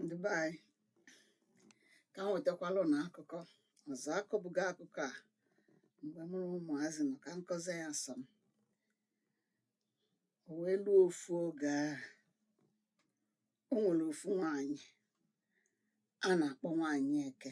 ndị be anyị ka m wetakwalụ unu akụkọ ọzọ akọbugo akụkọ a mgbe mụ na ụmụazị nọ ka m kọzie ya sọ m o wee luo ofu oge o nwere ofu nwaanyị a na-akpọ nwaanyị eke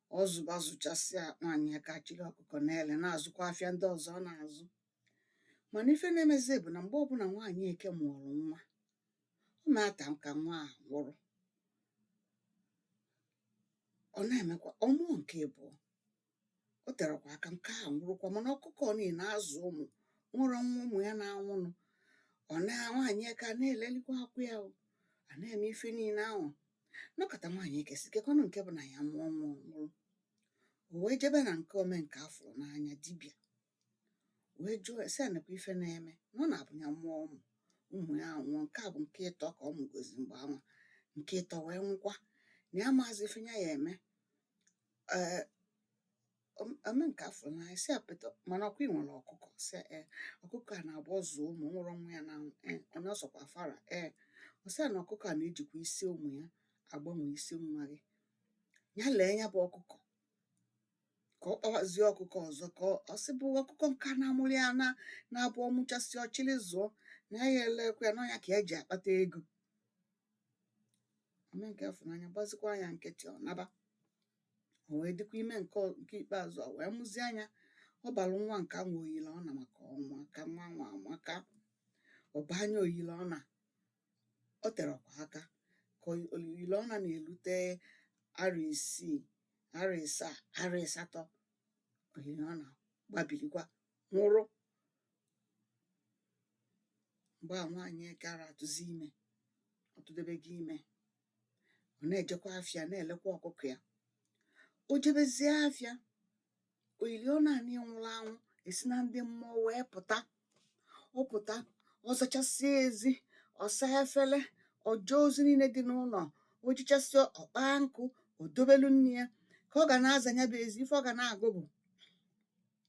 ọ zụba zụchasịa nwaanyị eke achịrị ọkụkọ na-ele na-azụkwa afịa ndị ọzọ ọ na-azụ mana ife na-emezi bụ na mgbe ọbụla nwaanyị eke mụrụ nwa ọ na-ete aka nwa a nwụrụ ọ na-emekwa ọ mụọ nke abụọ o terekwa aka nke a nwụrụkwa mana ọkụkọ niile azụ ụmụ o nwerọ nwa ụmụ ya na-anwụnụ ọ na nwaanyị eke a na-elelikwa akwa ya o a na-eme ife niile ahụ nọkata nwaanyị eke sị kekwanụ nke bụ na ya mụọ nwa ọ nwụrụ o wee jebe na nke omenka afụrụ n'anya dibịa wee jụọ ese ya nekwa ife na-eme na ọ na-abụ ya mụọ ụmụ ụmụ ya anwụọ nke a bụ nke ịtọ ka ọ mụgozi mgbe anwa nke ịtọ wee nwụkwa na ya amaazị ife ya ya eme ee omenka afụrụ n'anya sị ya pụta mana ọ kwa ị nwere ọkụkọ sị ya ee ọkụkọ a na-abụ ọ zụọ ụmụ o nwerọ nwa ya na ee onye ọ sọkwa fara ee ọ sị ya na ọkụkọ a na-ejikwa isi ụmụ ya agbanwe isi nwa gị ya lee ya bụ ọkụkọ ka ọ kpawazie ọkụkọ ọzọ ka ọ- ọ sị bụ ọkụkọ nke a na-amụrụ ya na na-abụ ọ mụchasịa ọ chịrị zụọ na ya elekwa ya na ọ nya ka ya ji akpata ego omenka afụrụ n'anya gbazikwa ya nkịtị ọ naba o wee dịkwa ime nke ọ- nke ikpeazụ a wee mụzie nya ọ balụ nwa nke anwa oyile ọna maka ọnwa ka nwa anwa amaka ọ baa nya oyile ọna o terekwa aka ka oyi- oyile ọna na-elute arọ isii arọ ịsaa arọ ịsatọ oyile ọna gbabilikwa nwụrụ mgbe a nwaanyị eke ara atụzi ime ọ tụdebego ime ọ na-ejekwa afịa na-elekwa ọkụkọ ya o jebezie afịa oyili ọna a nwụrụ anwụ esi na ndị mmụọ wee pụta ọ pụta ọ zachasịa ezi ọ saa efere o jee ozi niile dị n'ụlọ o jechasịa ọ kpaa nkụ o dobelu nne ya ka ọ ga na-aza ya bụ ezi ife ọ ga na-agụ bụ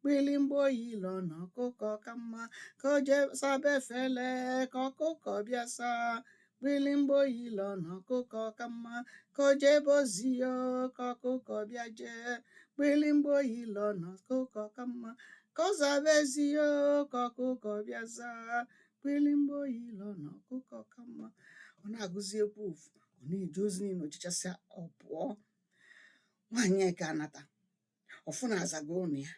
kpili mgba oyile ọna ọkụkọ ka mma ka o jee saba efele ka ọkụkọ bịa saa kpili mgba oyile ọna ọkụkọ ka mma ka o jebe ozi o ka ọkụkọ bịa jee kpili mgba oyile ọna ọkụkọ ka mma ka ọ zaba ezi o ka ọkụkọ bịa zaa kpili mgba oyile ọna ọkụkọ ka mma ọ na-agụzi egwu ofu ọ na-eje ozi niile o jechasịa ọ pụọ nwaanyị eke anata ọ fụ na a zago ụnọ ya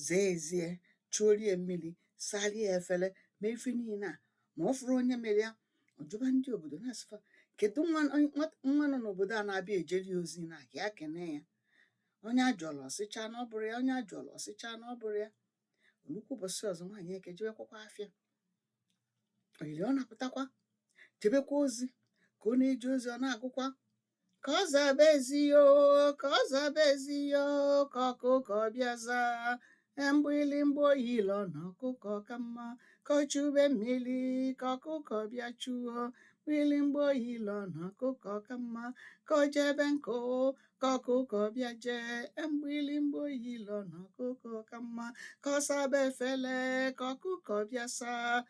zaa ezi ya chuorie mmiri salie efele mee ife niile a ma ọ fụrọ onye mere ya ọ jụba ndị obodo na-asị fa kedu nwa nọ n'obodo a na-abịa ejere ya ozi na ka ya kene ya onye a jụọla ọ sị cha na ọ bụrọ ya onye a jụọla ọ sị cha na ọ bụrọ ya nnukwu ụbọchị ọzọ nwaanyị eke jebekwakwa afịa oyiliọna apụtakwa jebekwa ozi ka ọ na-eje ozi ọ na-agụkwa ka ọ zaba ezi yo ka ọ zaba ezi yo ka ọkụkọ bịa zaa mgbịlịmgba oyiliọna ọkụkọ ka mma ka o chube mmiri ka ọkụkọ bịa chuo mgbịlịmgba oyiliọna ọkụkọ ka mma ka o jebe nkụ ka ọkụkọ bịa jee mgbịlịmgba oyiliọna ọkụkọ ka mma ka ọ saba efele ka ọkụkọ bịa saa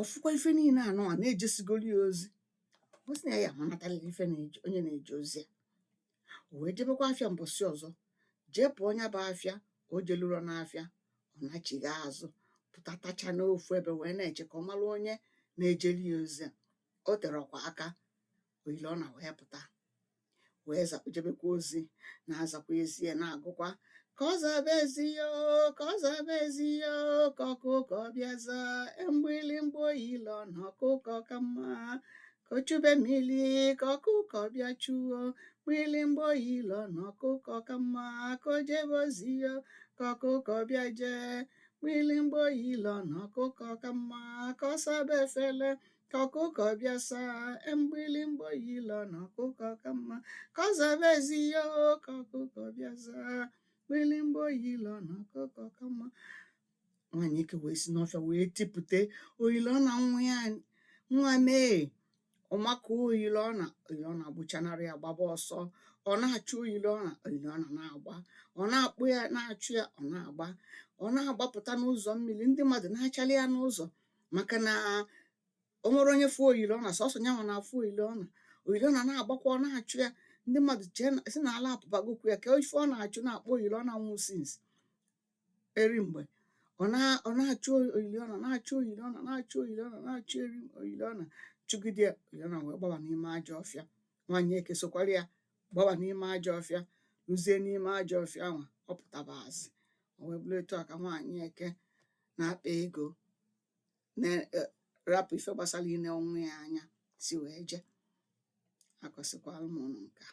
ọ fụkwa ife niile anụ a na e jesigoro ya ozi ọ sị na ya ya amanatarịrị ife na-eje onye na-eje ozi a o wee jebekwa afịa mbọsị ọzọ jee pụọ nya bụ afịa o jeluro n'afịa ọ nachigha azụ pụta tacha n'ofu ebe wee na-eche ka ọ mara onye na-ejeli ya ozi a o terọkwa aka oyiliọna wee pụta wee zakpụ jebekwa ozi na-azakwa ezi ya na-agụkwa ka ọ zaba ezi ya oo, ka ọ zaba ezi ya oo, ka ọkụkọ bịa zaa mgbịlịmgba oyiliọna ọkụkọ ka mma ka o chube mmiri ka ọkụkọ bịa chuo mgbịlịmgba oyiliọna ọkụkọ ka mma ka o jebe ozi ya oo, ka ọkụkọ bịa jee mgbịlịmgba oyiliọna ọkụkọ ka mma ka ọ saba efele ka ọkụkọ bịa saa mgbịlịmgba oyiliọna ọkụkọ ka mma ka ọ zaba ezi ya o ka ọkụkọ bịa zaa mgbịlịmgba oyiliọna ọkụkọ ka mma nwaanyị eke wee si n'ọfịa wee tipụta oyiliọna nwa ya nwa m ọmaka oyiliọna oyiliọna agbụchanarị ya gbaba ọsọ ọ na-achụ oyiliọna oyiliọna na-agba ọ na-akpọ ya na-achụ ya ọ na-agba ọ na-agbapụta n'ụzọ mmiri ndị mmadụ na-achalị ya n'ụzọ maka na o nwerọ onye fụ oyiliọna sọsọ nyanwa na-afụ oyiliọna oyiliọna na-agbakwa ọ na-achụ ya ndị mmadụ chee na sị na ala apụbagokwu ya ka ife ọ na-achụ na-akpọ oyiliọna nwụ since eri mgbe ọ na- ọ na-achụ oyiliọna na-achụ oyiliọna na-achụ oyiliọna na-achụ eri oyiliọna chụgide ya oyiliọna wee gbaba n'ime ajọ ọfịa nwaanyị eke sokwara ya gbaba n'ime ajọ ọfịa luzie n'ime ajọ ọfịa ahụ ọ pụtabazị o wee bụrụ etu a ka nwaanyị eke na-akpa ego na e, rapụ ife gbasara ine nwa ya anya si wee jee akọsịkwara m ụnụ nke a